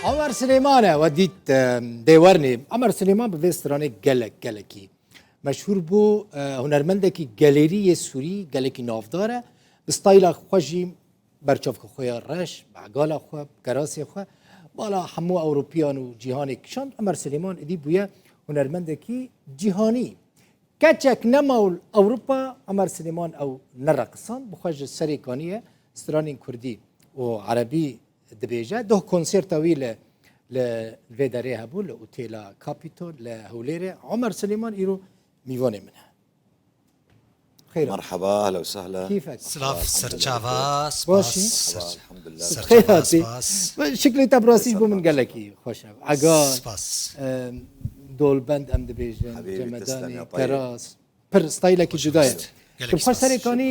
Amer Silêmane we dît dêwernê. Amer Silêman bi vê stranê gelek gelekî. Meşhûr bû hunermendekî gelêrî yê Sûrî gelekî navdar e. Bi stayla xwe jî berçavka xwe ya reş, begala xwe, kerasê xwe bala hemû Ewropiyan û cîhanê kişan Amer Silêman idî bûye hunermendekî cîhanî. Keçek nema û Ewropa Amer Silêman ew nereqisan bixwe ji serê kaniye stranên Kurdî û Erebî Dibêje doh konserta wî li li vê derê hebû li Otêla Kapîtol li Hewlêrê Omer Silêman îro mîvanê min e. Xêr Merhaba, ehla u sehla. Keyfek. Silav serçava, spas. Serçava, spas. Şiklê te birastî ji bo min gelekî xweş e. Ega spas. Dolbend em dibêjin, Cemedanê, Teras. Pir stayilekî cuda ye. Tu xwe serê kanî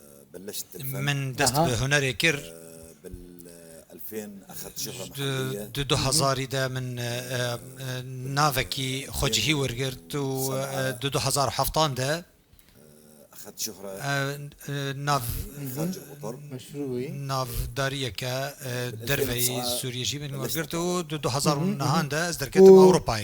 Min dest bi hunerê kir. Di du hezarî de min navekî xwecihî wergirt û di du hezar û heftan de navdariyeke derveyî Sûriyê jî min wergirt û di du hezar û nehan de ez derketim Ewropayê.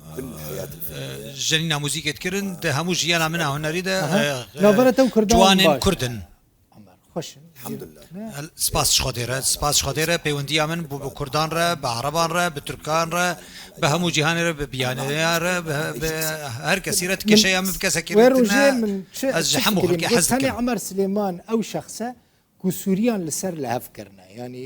Jenîna muzîkê dikirin di hemû jiyana min a hunerî de ciwanên kurd in. Spas ji Xwedê re spas ji Xwedê re pêwendiya min bi kurdan re bi ereban re bi tirkan re bi hemû cîhanê re bi bîyaneya re bi her kesî re ti kêşeya min bi kesekî re tune ez ji hemû xelkê hez dikim. Tenê Emer Silêman ew şexs e ku Sûriyan li ser li hev kirine yanî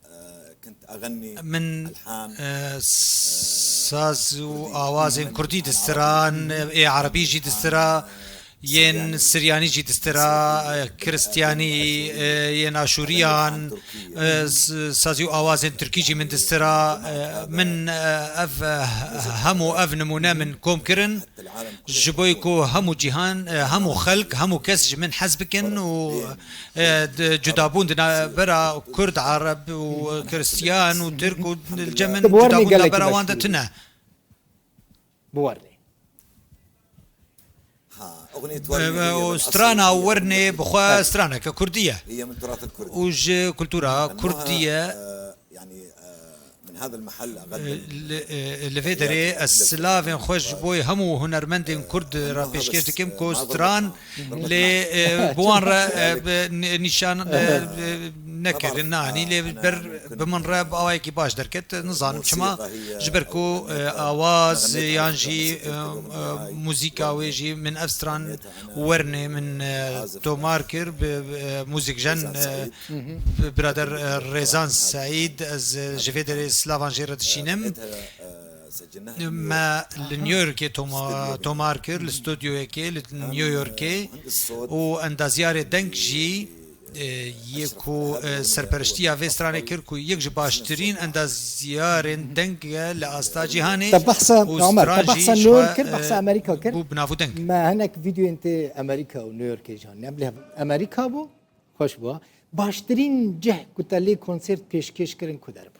Min saz û awazên kurdî distira, ê erebî jî distira, yên siryanî jî distira, kiristyanî, yên aşûriyan, sazî û awazên tirkî jî min distira. Min ev hemû ev nimûne min kom kirin ji bo ku hemû cîhan, hemû xelk, hemû kes ji min hez bikin û Cudabûn di navbera Kurd, Arab û Kristiyan û Tirk û li cem min cudabûn di navbera wan de tune. Strana Wernê bi xwe straneke Kurdî ye û ji kultura Kurdî ye. Li vê derê ez silavên xwe ji bo hemû hunermendên Kurd re pêşkêş dikim ku stran lê bi wan re nîşan nekirin anî lê ber bi min re bi awayekî baş derket nizanim çima ji ber ku awaz yan jî muzîka wê jî min ev stran wernê min tomar kir bi muzikjen birader Rêzan Seîd ez ji vê derê silavan jê re dişînim. Me li New Yorkê tomar kir li studyoyekê li New Yorkê û endaziyarê deng jî yê ku serperiştiya vê stranê kir ku yek ji baştirîn endazyarên deng e li asta cîhanê û stran jî ji xwe bû bi nav û deng. Me hinek vîdeoyên tê Amerîka û New Yorkê jî anîne. Bilê Amerîka bû xweş bû. Baştirîn cih ku te lê konsêrt pêşkêş kirin ku derbû?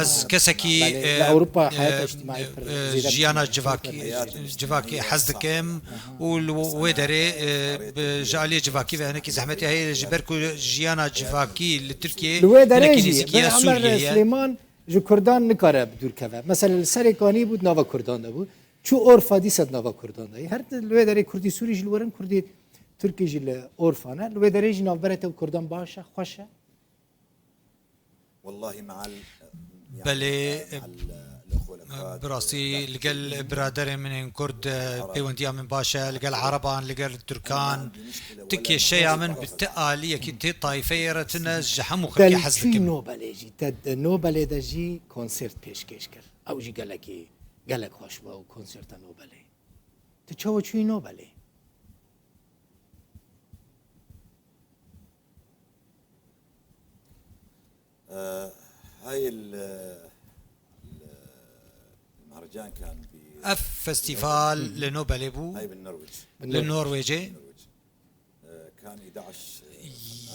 Ez kesekî jiyana civakî hez dikim û li wê derê ji aliyê civakî ve hinekî zehmetê heye lê ji ber ku jiyana civakî li Tirkiyeyê Li wê derê jî Ber Emer Silêman ji kurdan nikare bi dûr keve. Mesele li Serêkanî bû di nava kurdan de bû. Çû Orfa dîsa di nava kurdan de ye. Her di wê derê kurdî sûrî jî li wir in, kurdî tirkî jî li Orfa ne. Li wê derê jî navbera te û kurdan baş e, xweş e. Belê, bi rastî li gel biraderên min ên Kurd pêwendiya min baş e, li gel Ereban, li gel Tirkan, ti kêşeya min bi ti aliyekî, ti tayfeyê re tune, ji hemû xelkê hez dikim. Belê çû Nobelê jî, te di Nobelê de jî konsêrt pêşkêş kir, ew jî gelekî gelek xweş bû ew konsêrta Nobelê. Tu çawa çûyî Nobelê? Ev festîval li Nobelê bû li Norwêcê.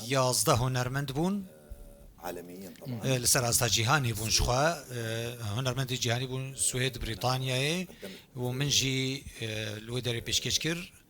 Yazdeh hunermend bûn li ser asta cîhanê bûn jixwe hunermendên cîhanî bûn Swêd, Brîtanyayê û min jî li wê derê pêşkêş kir.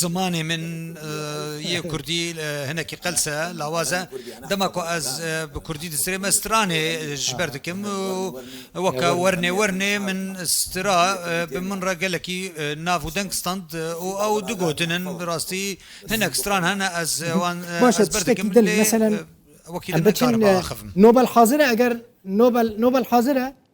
Zimanê min yê kurdî hinekî qels e, lawaz e. Dema ku ez bi kurdî distrêm ez stranê ji ber dikim û weke wernê wernê min stra bi min re gelekî nav û deng stand û ew du gotin in bi rastî hinek stran hene ez wan ez ber dikim lê wekî li me kar e. Nobel hazir e eger Nobel Nobel hazir e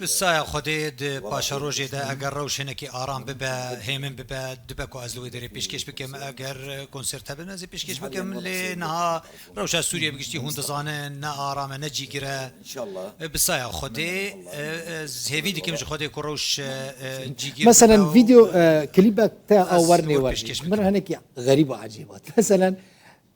Bi saya Xwedê di paşerojê de eger rewş hinekî aram bibe, hêmin bibe, dibe ku ez li wê derê pêşkêş bikim. Eger konsert hebe ez ê pêşkêş bikim. Lê niha rewşa Sûriyê bi giştî hûn dizanin ne aram e ne cîgir e. Bi saya Xwedê ez hêvî dikim ji Xwedê ku rewş cîgir bibe û Meselen vîdeo klîbek te a wer nêwer min hinekî xerîb û ecêb hat. Meselen.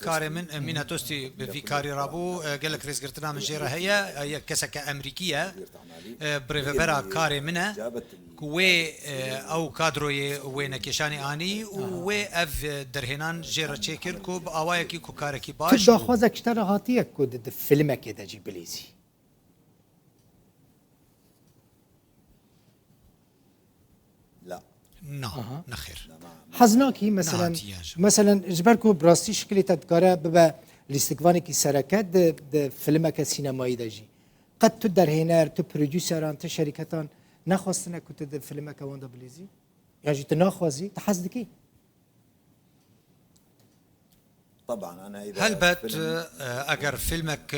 Karê min mîna tostî bi vî karî ra bû. Gelek rêzgirtina min jê re heye. Yek keseke Emerîkî ye. Bi rêvebera karê min e ku wê ew kadroyê wênekêşanê anî û wê ev derhênan jê re çêkir ku bi awayekî ku karekî baş û. Ti daxwaza kişta re hatiye ku di filmekê de jî bilîzî? Hez nakî meselen meselen ji ber ku bi rastî şikilê te dikare bibe lîstikvanekî sereke di di filimeke sînemayî de jî. Qet tu derhêner, tu prodûseran, tu şerîketan nexwestine ku tu di filimeke wan de bilîzî? Yan jî tu naxwazî, tu hez dikî? Helbet eger fîlmek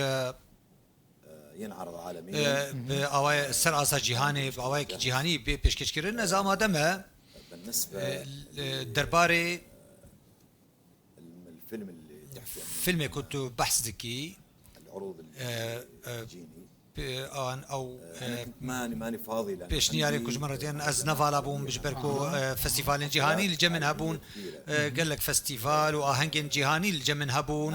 bi awayê ser asa cîhanê bi awayekî cîhanî bê pêşkêşkirin ez amade me derbarê fîlmê ku tu behs dikî Pêşniyarên ku ji min re têne, ez ne vala bûm ji ber ku festîvalên cîhanî li cem min hebûn, gelek festîval û ahengên cîhanî li cem min hebûn.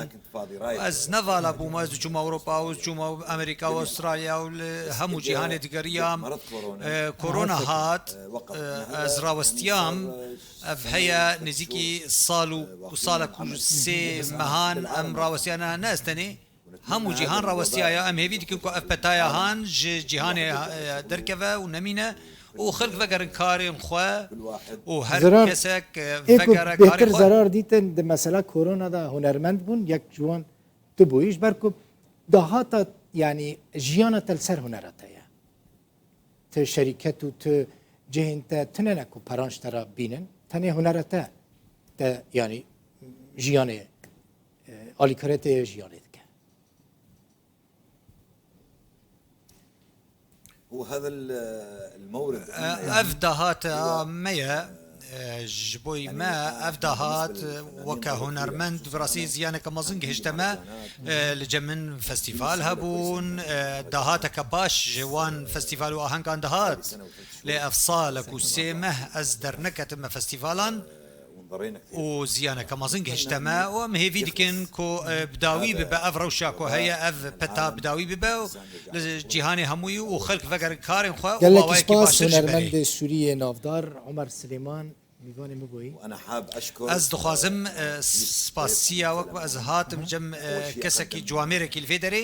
Ez ne vala bûm, ez diçûm Ewropa û diçûm Amerîka û Astralya û li hemû cîhanê digeriyam. Korona hat, ez rawestiyam, ev heye nêzîkî sal û salek û sê mehan em rawestiyane ne ez tenê. Hemû cîhan rawestiyaya em hêvî dikin ku ev petaya han ji cîhanê derkeve û nemîne û xelk vegerin karên xwe û her kesek vegere karê xwe. Zarar dîtin di mesela korona de hunermend bûn yek ji wan tu bûyî ji ber ku dahata yanî jiyana te li ser hunera te ye. Ti şerîket û tu cihên te tune ne ku peranj te re bînin tenê hunera te te yanî jiyanê Alîkare tê jiyanê dike. Ev dahat a me ye. Ji bo me ev dahat weke hunermend bi rastî ziyaneke mezin gihişte me. Li cem min festîval hebûn, dahateke baş ji wan festîval û ahengan dihat. Lê ev sal e ku sê meh ez derneketime festîvalan. û ziyaneke mezin gihişte me û em hêvî dikin ku bi dawî bibe ev rewşa ku heye ev peta bi dawî bibe û li cîhanê hemûyî û xelk vegerin karên xwe û mawayekî baştir ji berê. Gelekî spas hunermendê Sûriyê navdar Omer Silêman mîvanê min bûyî. Ez dixwazim spasiya wek bi ez hatim cem kesekî ciwamêrekî li vê derê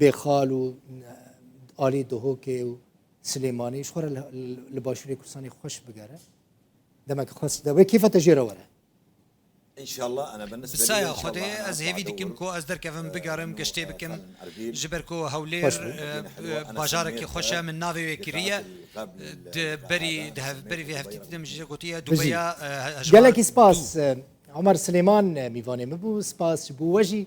Bêxal û alî Duhokê û Silêmanî ji xwe re li başûrê Kurdistanê xweş bigere. Demek xwest de wê kêfa te jê re were. Bi saya Xwedê ez hêvî dikim ku ez derkevim bigerim giştê bikim ji ber ku Hewlêr bajarekî xweş e min navê wê kiriye di berî di hev berî vê heftî didim jê gotiye Dubeya hejmar. Gelekî spas Omer Silêman mîvanê min bû spas ji bo we jî